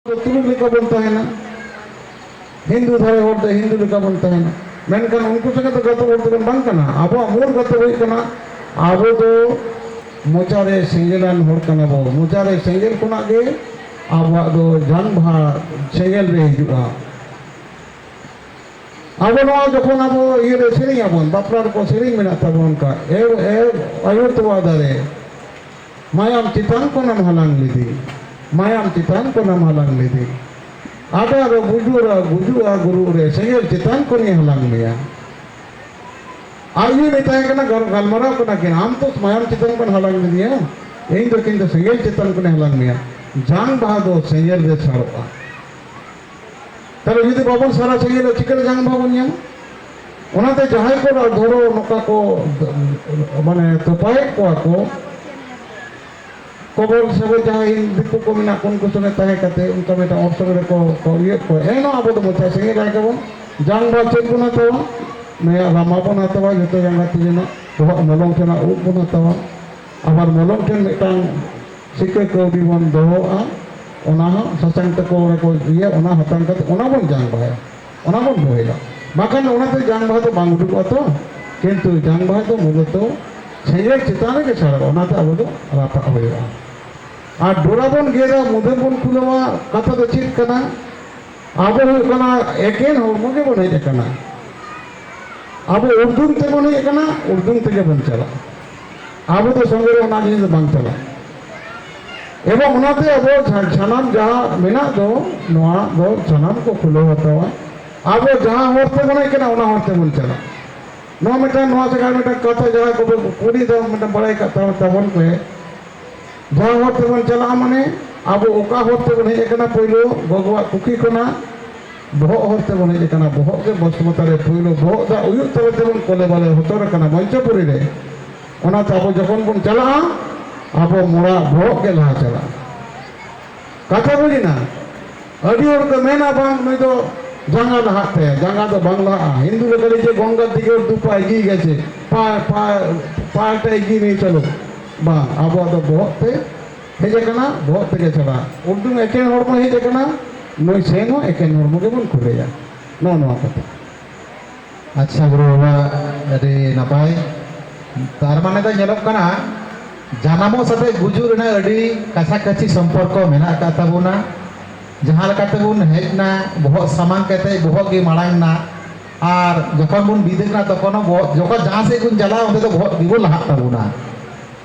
ᱛᱩᱲᱩᱠ ᱞᱮᱠᱟ ᱵᱚᱱ ᱛᱟᱦᱮᱱᱟ ᱦᱤᱱᱫᱩ ᱫᱷᱟᱨᱮ ᱦᱚᱲ ᱫᱚ ᱦᱤᱱᱫᱩ ᱞᱮᱠᱟ ᱵᱚᱱ ᱛᱟᱦᱮᱱᱟ ᱢᱮᱱᱠᱷᱟᱱ ᱩᱱᱠᱩ ᱥᱚᱸᱜᱮ ᱫᱚ ᱜᱟᱛᱮ ᱦᱚᱲ ᱫᱚᱵᱚᱱ ᱵᱟᱝ ᱠᱟᱱᱟ ᱟᱵᱚᱣᱟᱜ ᱢᱩᱞ ᱜᱟᱛᱮ ᱦᱩᱭᱩᱜ ᱠᱟᱱᱟ ᱟᱵᱚ ᱫᱚ ᱢᱚᱪᱟᱨᱮ ᱥᱮᱸᱜᱮᱞᱟᱱ ᱦᱚᱲ ᱠᱟᱱᱟ ᱵᱚ ᱢᱚᱪᱟᱨᱮ ᱥᱮᱸᱜᱮᱞ ᱠᱷᱚᱱᱟᱜ ᱜᱮ ᱟᱵᱚᱣᱟᱜ ᱫᱚ ᱡᱟᱱᱵᱷᱟ ᱥᱮᱸᱜᱮᱞ ᱨᱮ ᱦᱤᱡᱩᱜᱼᱟ ᱟᱵᱚ ᱱᱚᱣᱟ ᱡᱚᱠᱷᱚᱱ ᱟᱵᱚ ᱤᱭᱟᱹᱨᱮ ᱥᱮᱨᱮᱧ ᱟᱵᱚᱱ ᱵᱟᱯᱞᱟ ᱨᱮᱠᱚ ᱥᱮᱨᱮᱧ ᱢᱮᱱᱟᱜ ᱛᱟᱵᱚᱱ ᱚᱱᱠᱟ ᱮ ᱮ ᱟᱭᱳ ᱛᱚᱣᱟ ᱫᱟᱨᱮ ᱢᱟᱭᱟᱢ ᱪᱮᱛᱟᱱ ᱠᱷᱚᱱᱮᱢ ᱦᱟᱞᱟᱝ ᱞᱮᱫᱮ ᱢᱟᱭᱟᱢ ᱪᱮᱛᱟᱱ ᱠᱷᱚᱱᱮᱢ ᱦᱟᱞᱟᱝ ᱞᱮᱫᱮ ᱟᱫᱟ ᱨᱮ ᱵᱩᱡᱩᱨᱟ ᱜᱩᱡᱩᱜᱼᱟ ᱜᱩᱨᱩ ᱨᱮ ᱥᱮᱸᱜᱮᱞ ᱪᱮᱛᱟᱱ ᱠᱷᱚᱱᱤᱧ ᱦᱟᱞᱟᱝ ᱢᱮᱭᱟ ᱟᱨ ᱤᱧ ᱢᱮᱛᱟᱭ ᱠᱟᱱᱟ ᱜᱟᱞᱢᱟᱨᱟᱣ ᱠᱟᱱᱟ ᱠᱤᱱ ᱟᱢ ᱛᱚ ᱢᱟᱭᱟᱢ ᱪᱮᱛᱟᱱ ᱠᱷᱚᱱ ᱦᱟᱞᱟᱝ ᱞᱮᱫᱮᱭᱟ ᱤᱧ ᱫᱚ ᱠᱤᱱᱛᱩ ᱥᱮᱸᱜᱮᱞ ᱪᱮᱛᱟᱱ ᱠᱷᱚᱱᱤᱧ ᱦᱟᱞᱟᱝ ᱢᱮᱭᱟ ᱡᱟᱝ ᱵᱟᱦᱟ ᱫᱚ ᱥᱮᱸᱜᱮᱞ ᱨᱮ ᱥᱟᱲᱚᱜᱼᱟ ᱛᱟᱦᱚᱞᱮ ᱡᱩᱫᱤ ᱵᱟᱵᱚᱱ ᱥᱟᱨᱟ ᱪᱟᱹᱦᱤᱭᱟ ᱪᱤᱠᱟᱹᱛᱮ ᱡᱟᱝ ᱵᱟᱵᱚᱱ ᱧᱟᱢ ᱚᱱᱟᱛᱮ ᱡᱟᱦᱟᱸᱭ ᱠᱚ ᱫᱷᱚᱨᱚ ᱱᱚᱝᱠᱟ ᱠᱚ ᱢᱟᱱᱮ ᱛᱚᱯᱟᱭᱮᱫ ᱠᱚᱣᱟ ᱠᱚ ᱠᱚᱵᱚᱞ ᱥᱟᱵᱮ ᱡᱟᱦᱟᱸᱭ ᱫᱤᱠᱩ ᱠᱚ ᱢᱮᱱᱟᱜ ᱠᱚ ᱩᱱᱠᱩ ᱥᱚᱸᱜᱮ ᱛᱟᱦᱮᱸ ᱠᱟᱛᱮ ᱩᱱᱠᱩ ᱢᱤᱫᱴᱟᱝ ᱚᱯᱥᱚᱨ ᱨᱮᱠᱚ ᱤᱭᱟᱹ ᱠᱚ ᱮᱱ ᱟᱵᱚ ᱫᱚ ᱢᱚᱪᱟ ᱥᱟᱺᱜᱤᱧ ᱨᱟᱭ ᱜᱮᱵᱚᱱ ᱡᱟᱝ ᱵᱟ ᱪᱮᱫ ᱵᱚᱱ ᱦᱟᱛᱟᱣᱟ ᱱᱤᱭᱟᱹ ᱨᱟᱢᱟ ᱵᱚᱱ ᱦᱟᱛᱟᱣᱟ ᱡᱚᱛᱚ ᱡᱟᱸᱜᱟ ᱛᱤ ᱨᱮᱱᱟᱜ ᱵᱚᱦᱚᱜ ᱢᱚᱞᱚᱝ ᱴᱷᱮᱱᱟᱜ ᱩᱵ ᱵᱚᱱ ᱦᱟᱛᱟᱣᱟ ᱟᱵᱟᱨ ᱢᱚᱞᱚᱝ ᱴᱷᱮᱱ ᱢᱤᱫᱴᱟᱝ ᱪᱤᱠᱟᱹ ᱠᱟᱹᱣᱰᱤ ᱵᱚᱱ ᱫᱚᱦᱚᱜᱼᱟ ᱚᱱᱟ ᱦᱚᱸ ᱥᱟᱥᱟᱝ ᱛᱮᱠᱚ ᱚᱱᱟ ᱠᱚ ᱤᱭᱟᱹ ᱚᱱᱟ ᱦᱟᱛᱟᱝ ᱠᱟᱛᱮ ᱚᱱᱟ ᱵᱚᱱ ᱡᱟᱝ ᱵᱟᱦᱟᱭᱟ ᱚᱱᱟ ᱵᱚᱱ ᱵᱚᱦᱮᱞᱟ ᱵᱟᱠᱷᱟᱱ ᱚᱱᱟᱛᱮ ᱡᱟᱝ ᱵᱟᱦᱟ ᱫᱚ ᱵᱟᱝ ᱩᱰᱩᱠᱚᱜᱼᱟ ᱛᱚ ᱠᱤᱱᱛᱩ ᱡᱟᱝ ᱵᱟᱦᱟ ᱫᱚ ᱢᱩᱞᱚᱛᱚ ᱥᱮᱸᱜᱮᱞ ᱪᱮᱛᱟᱱ ᱨᱮᱜᱮ ᱥᱟᱲᱟᱜᱼᱟ ᱚᱱᱟᱛᱮ ᱟᱵᱚ ᱫᱚ ᱨᱟᱯᱟᱜ ᱦᱩᱭᱩᱜᱼᱟ ᱟᱨ ᱰᱚᱨᱟ ᱵᱚᱱ ᱜᱮᱫᱟ ᱢᱩᱫᱟᱹ ᱵᱚᱱ ᱠᱷᱩᱞᱟᱹᱣᱟ ᱠᱟᱛᱷᱟ ᱫᱚ ᱪᱮᱫ ᱠᱟᱱᱟ ᱟᱵᱚ ᱦᱩᱭᱩᱜ ᱠᱟᱱᱟ ᱮᱠᱮᱱ ᱦᱚᱲᱢᱚ ᱜᱮ ᱵᱚᱱ ᱦᱮᱡ ᱟᱠᱟᱱᱟ ᱟᱵᱚ ᱩᱨᱫᱩᱢ ᱛᱮᱵᱚᱱ ᱦᱮᱡ ᱟᱠᱟᱱᱟ ᱩᱨᱫᱩᱢ ᱛᱮᱜᱮ ᱵᱚᱱ ᱪᱟᱞᱟᱜᱼᱟ ᱟᱵᱚ ᱫᱚ ᱥᱚᱸᱜᱮ ᱨᱮ ᱚᱱᱟ ᱡᱤᱱᱤᱥ ᱵᱟᱝ ᱪᱟᱞᱟᱜᱼᱟ ᱮᱵᱚᱝ ᱚᱱᱟᱛᱮ ᱟᱵᱚ ᱥᱟᱱᱟᱢ ᱡᱟᱦᱟᱸ ᱢᱮᱱᱟᱜ ᱫᱚ ᱱᱚᱣᱟ ᱫᱚ ᱥᱟᱱᱟᱢ ᱠᱚ ᱠᱷᱩᱞᱟᱹᱣ ᱦᱟᱛᱟᱣᱟ ᱟᱵᱚ ᱡᱟᱦᱟᱸ ᱦᱚᱨ ᱛᱮᱵᱚᱱ ᱦᱮᱡ ᱠᱟᱱᱟ ᱚᱱᱟ ᱦᱚᱨ ᱛᱮᱵᱚᱱ ᱪᱟᱞᱟᱜᱼᱟ ᱱᱚᱣᱟ ᱢᱤᱫᱴᱟᱝ ᱱᱚᱣᱟ ᱥᱮᱠᱟᱨ ᱢᱤᱫᱴᱟᱝ ᱠᱟᱛᱷᱟ ᱡᱟᱦᱟᱸ ᱠᱚ ᱠᱩᱞᱤ ᱫᱚ ᱢᱤᱫᱴᱟᱝ ᱵᱟᱲᱟᱭ ᱠᱟᱜ ᱛᱟᱵᱚᱱ ᱯᱮ ᱡᱟᱦᱟᱸ ᱦᱚᱨ ᱛᱮᱵᱚᱱ ᱪᱟᱞᱟᱜᱼᱟ ᱢᱟᱱᱮ ᱟᱵᱚ ᱚᱠᱟ ᱦᱚᱨ ᱛᱮᱵᱚᱱ ᱦᱮᱡ ᱟᱠᱟᱱᱟ ᱯᱳᱭᱞᱳ ᱜᱚᱜᱚᱣᱟᱜ ᱠᱩᱠᱷᱤ ᱠᱷᱚᱱᱟᱜ ᱵᱚᱦᱚᱜ ᱦᱚᱨ ᱛᱮᱵᱚᱱ ᱦᱮᱡ ᱟᱠᱟᱱᱟ ᱵᱚᱦᱚᱜ ᱜᱮ ᱵᱚᱥᱢᱚᱛᱟ ᱨᱮ ᱯᱩᱭᱞᱩ ᱵᱚᱦᱚᱜ ᱫᱟᱜ ᱩᱭᱩᱜ ᱛᱟᱞᱟ ᱛᱮᱵᱚᱱ ᱠᱚᱞᱮ ᱵᱟᱞᱮ ᱦᱚᱴᱚᱨ ᱟᱠᱟᱱᱟ ᱢᱚᱧᱪᱚᱯᱩᱨᱤ ᱨᱮ ᱚᱱᱟᱛᱮ ᱟᱵᱚ ᱡᱚᱠᱷᱚᱱ ᱵᱚᱱ ᱪᱟᱞᱟᱜᱼᱟ ᱟᱵᱚ ᱢᱚᱲᱟ ᱵᱚᱦᱚᱜ ᱜᱮ ᱞᱟᱦᱟ ᱪᱟᱞᱟᱜᱼᱟ ᱠᱟᱛᱷᱟ ᱵᱩᱡᱮᱱᱟ ᱟᱹᱰᱤ ᱦᱚᱲ ᱠᱚ ᱢᱮᱱᱟ ᱵᱟᱝ ᱱᱩᱭ ᱫᱚ ᱡᱟᱸᱜᱟ ᱞᱟᱦᱟᱜ ᱛᱟᱭᱟ ᱡᱟᱸᱜᱟ ᱫᱚ ᱵᱟᱝ ᱞᱟᱦᱟᱜᱼᱟ ᱦᱤᱱᱫᱩ ᱞᱮᱠᱟ ᱡᱮ ᱜᱚᱝᱜᱟ ᱫᱤᱜᱮ ᱫᱩᱯᱟ ᱮᱜᱤ ᱜᱮᱪᱮ ᱯᱟ ᱯᱟ ᱯᱟᱴᱟ ᱮᱜᱤ ᱱᱤᱭ ᱪᱟᱞᱩ ᱵᱟᱝ ᱟᱵᱚᱣᱟᱜ ᱫᱚ ᱵᱚᱦᱚᱜ ᱛᱮ ᱦᱮᱡ ᱟᱠᱟᱱᱟ ᱵᱚᱦᱚᱜ ᱯᱮᱨᱮ ᱪᱟᱵᱟ ᱩᱰᱩᱝ ᱮᱠᱮᱱ ᱦᱚᱲ ᱵᱚᱱ ᱦᱮᱡ ᱟᱠᱟᱱᱟ ᱱᱩᱭ ᱥᱮᱱ ᱦᱚᱸ ᱮᱠᱮᱱ ᱦᱚᱲᱢᱚ ᱜᱮᱵᱚᱱ ᱠᱷᱩᱞᱮᱭᱟ ᱱᱚᱜᱼᱚ ᱱᱚᱣᱟ ᱠᱟᱛᱷᱟ ᱟᱪᱪᱷᱟ ᱜᱩᱨᱩ ᱵᱟᱵᱟ ᱟᱹᱰᱤ ᱱᱟᱯᱟᱭ ᱛᱟᱨ ᱢᱟᱱᱮ ᱫᱚ ᱧᱮᱞᱚᱜ ᱠᱟᱱᱟ ᱡᱟᱱᱟᱢᱚᱜ ᱥᱟᱛᱮ ᱜᱩᱡᱩᱜ ᱨᱮᱱᱟᱜ ᱟᱹᱰᱤ ᱠᱟᱪᱷᱟ ᱠᱟᱪᱷᱤ ᱥᱚᱢᱯᱚᱨᱠᱚ ᱢᱮᱱᱟᱜ ᱟᱠᱟᱫ ᱛᱟᱵᱚᱱᱟ ᱡᱟᱦᱟᱸ ᱞᱮᱠᱟ ᱛᱮᱵᱚᱱ ᱦᱮᱡ ᱮᱱᱟ ᱵᱚᱦᱚᱜ ᱥᱟᱢᱟᱝ ᱠᱟᱛᱮ ᱵᱚᱦᱚᱜ ᱜᱮ ᱢᱟᱲᱟᱝ ᱮᱱᱟ ᱟᱨ ᱡᱚᱠᱷᱚᱱ ᱵᱚᱱ ᱵᱤᱫᱟᱹᱜ ᱠᱟᱱᱟ ᱛᱚᱠᱷᱚᱱ ᱦᱚᱸ ᱵᱚᱦᱚᱜ ᱡᱚᱠᱷᱚᱱ ᱡᱟᱦᱟᱸ ᱥᱮᱫ ᱵᱚᱱ ᱪᱟᱞᱟᱜᱼᱟ ᱚᱸᱰᱮ ᱫᱚ ᱵᱚᱦᱚᱜ ᱜᱮᱵᱚᱱ ᱞᱟᱦᱟᱜ ᱛᱟᱵᱚᱱᱟ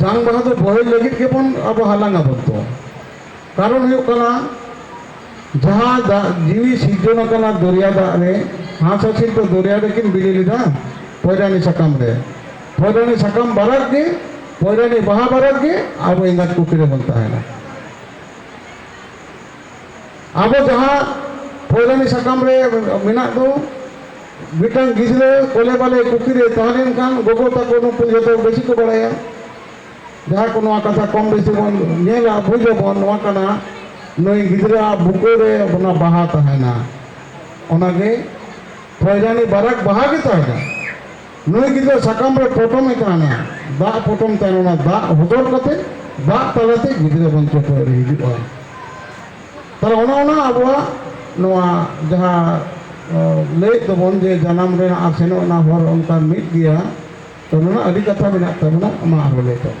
ᱡᱟᱝ ᱵᱟᱦᱟ ᱫᱚ ᱵᱚᱦᱮᱞ ᱞᱟᱹᱜᱤᱫ ᱜᱮᱵᱚᱱ ᱟᱵᱚ ᱦᱟᱞᱟᱝ ᱟᱵᱚᱱ ᱛᱚ ᱠᱟᱨᱚᱱ ᱦᱩᱭᱩᱜ ᱠᱟᱱᱟ ᱡᱟᱦᱟᱸ ᱫᱟᱜ ᱡᱤᱣᱤ ᱥᱤᱨᱡᱚᱱ ᱟᱠᱟᱱᱟ ᱫᱚᱨᱭᱟ ᱫᱟᱜ ᱨᱮ ᱦᱟᱸᱥ ᱦᱟᱹᱥᱤᱞ ᱫᱚ ᱫᱚᱨᱭᱟ ᱨᱮᱠᱤᱱ ᱵᱤᱞᱤ ᱞᱮᱫᱟ ᱯᱚᱭᱨᱟᱱᱤ ᱥᱟᱠᱟᱢ ᱨᱮ ᱯᱚᱭᱨᱟᱱᱤ ᱥᱟᱠᱟᱢ ᱵᱟᱨᱟᱜ ᱜᱮ ᱯᱚᱭᱨᱟᱱᱤ ᱵᱟᱦᱟ ᱵᱟᱨᱟᱜ ᱜᱮ ᱟᱵᱚ ᱮᱸᱜᱟᱛ ᱠᱩᱠᱷᱤ ᱨᱮᱵᱚᱱ ᱛᱟᱦᱮᱱᱟ ᱟᱵᱚ ᱡᱟᱦᱟᱸ ᱯᱷᱚᱭᱞᱟᱱᱤ ᱥᱟᱠᱟᱢ ᱨᱮ ᱢᱮᱱᱟᱜ ᱫᱚ ᱢᱤᱫᱴᱟᱝ ᱜᱤᱫᱽᱨᱟᱹ ᱠᱚᱞᱮ ᱵᱟᱞᱮ ᱠᱩᱠᱷᱤ ᱨᱮ ᱛᱟᱦᱮᱸ ᱞᱮᱱᱠᱷᱟᱱ ᱜᱚᱜᱚ ᱛᱟᱠᱚ ᱱᱩᱠᱩ ᱡᱚᱛᱚ ᱵᱮᱥᱤ ᱠᱚ ᱵᱟᱲᱟᱭᱟ ᱡᱟᱦᱟᱸ ᱠᱚ ᱱᱚᱣᱟ ᱠᱟᱛᱷᱟ ᱠᱚᱢ ᱵᱮᱥᱤ ᱵᱚᱱ ᱧᱮᱞᱟ ᱵᱩᱡᱽ ᱟᱵᱚᱱ ᱱᱚᱣᱟ ᱠᱟᱱᱟ ᱱᱩᱭ ᱜᱤᱫᱽᱨᱟᱹ ᱵᱩᱠᱟᱹ ᱨᱮ ᱚᱱᱟ ᱵᱟᱦᱟ ᱛᱟᱦᱮᱱᱟ ᱚᱱᱟᱜᱮ ᱯᱷᱚᱭᱞᱟᱱᱤ ᱵᱟᱨᱟᱠ ᱵᱟᱦᱟ ᱜᱮ ᱛᱟᱦᱮᱱᱟ ᱱᱩᱭ ᱜᱤᱫᱽᱨᱟᱹ ᱥᱟᱠᱟᱢ ᱨᱮ ᱯᱚᱴᱚᱢ ᱮ ᱠᱟᱱᱟ ᱫᱟᱜ ᱯᱚᱴᱚᱢ ᱛᱟᱭᱚᱢ ᱚᱱᱟ ᱫᱟᱜ ᱦᱚᱫᱚᱨ ᱠᱟᱛᱮ ᱫᱟᱜ ᱛᱟᱞᱟᱛᱮ ᱜᱤᱫᱽᱨᱟᱹ ᱵᱟᱧᱪᱟᱣ ᱠᱚ ᱟᱹᱨᱤ ᱦᱤᱡᱩᱜᱼᱟ ᱛᱟᱦᱚᱞᱮ ᱚᱱᱟ ᱚᱱᱟ ᱟᱵᱚᱣᱟᱜ ᱱᱚᱣᱟ ᱡᱟᱦᱟᱸ ᱞᱟᱹᱭᱮᱫ ᱫᱚᱵᱚᱱ ᱡᱮ ᱡᱟᱱᱟᱢ ᱨᱮᱱᱟᱜ ᱟᱨ ᱥᱮᱱᱚᱜ ᱨᱮᱱᱟᱜ ᱦᱚᱨ ᱚᱱᱠᱟ ᱢᱤᱫ ᱜᱮᱭᱟ ᱛᱚ ᱱᱚᱣᱟ ᱟᱹᱰᱤ ᱠᱟᱛᱷᱟ ᱢᱮᱱᱟᱜ ᱛᱟᱵᱚᱱᱟ ᱢᱟ ᱟᱨᱦᱚᱸ ᱞᱟᱹᱭ ᱛᱟᱵᱚᱱ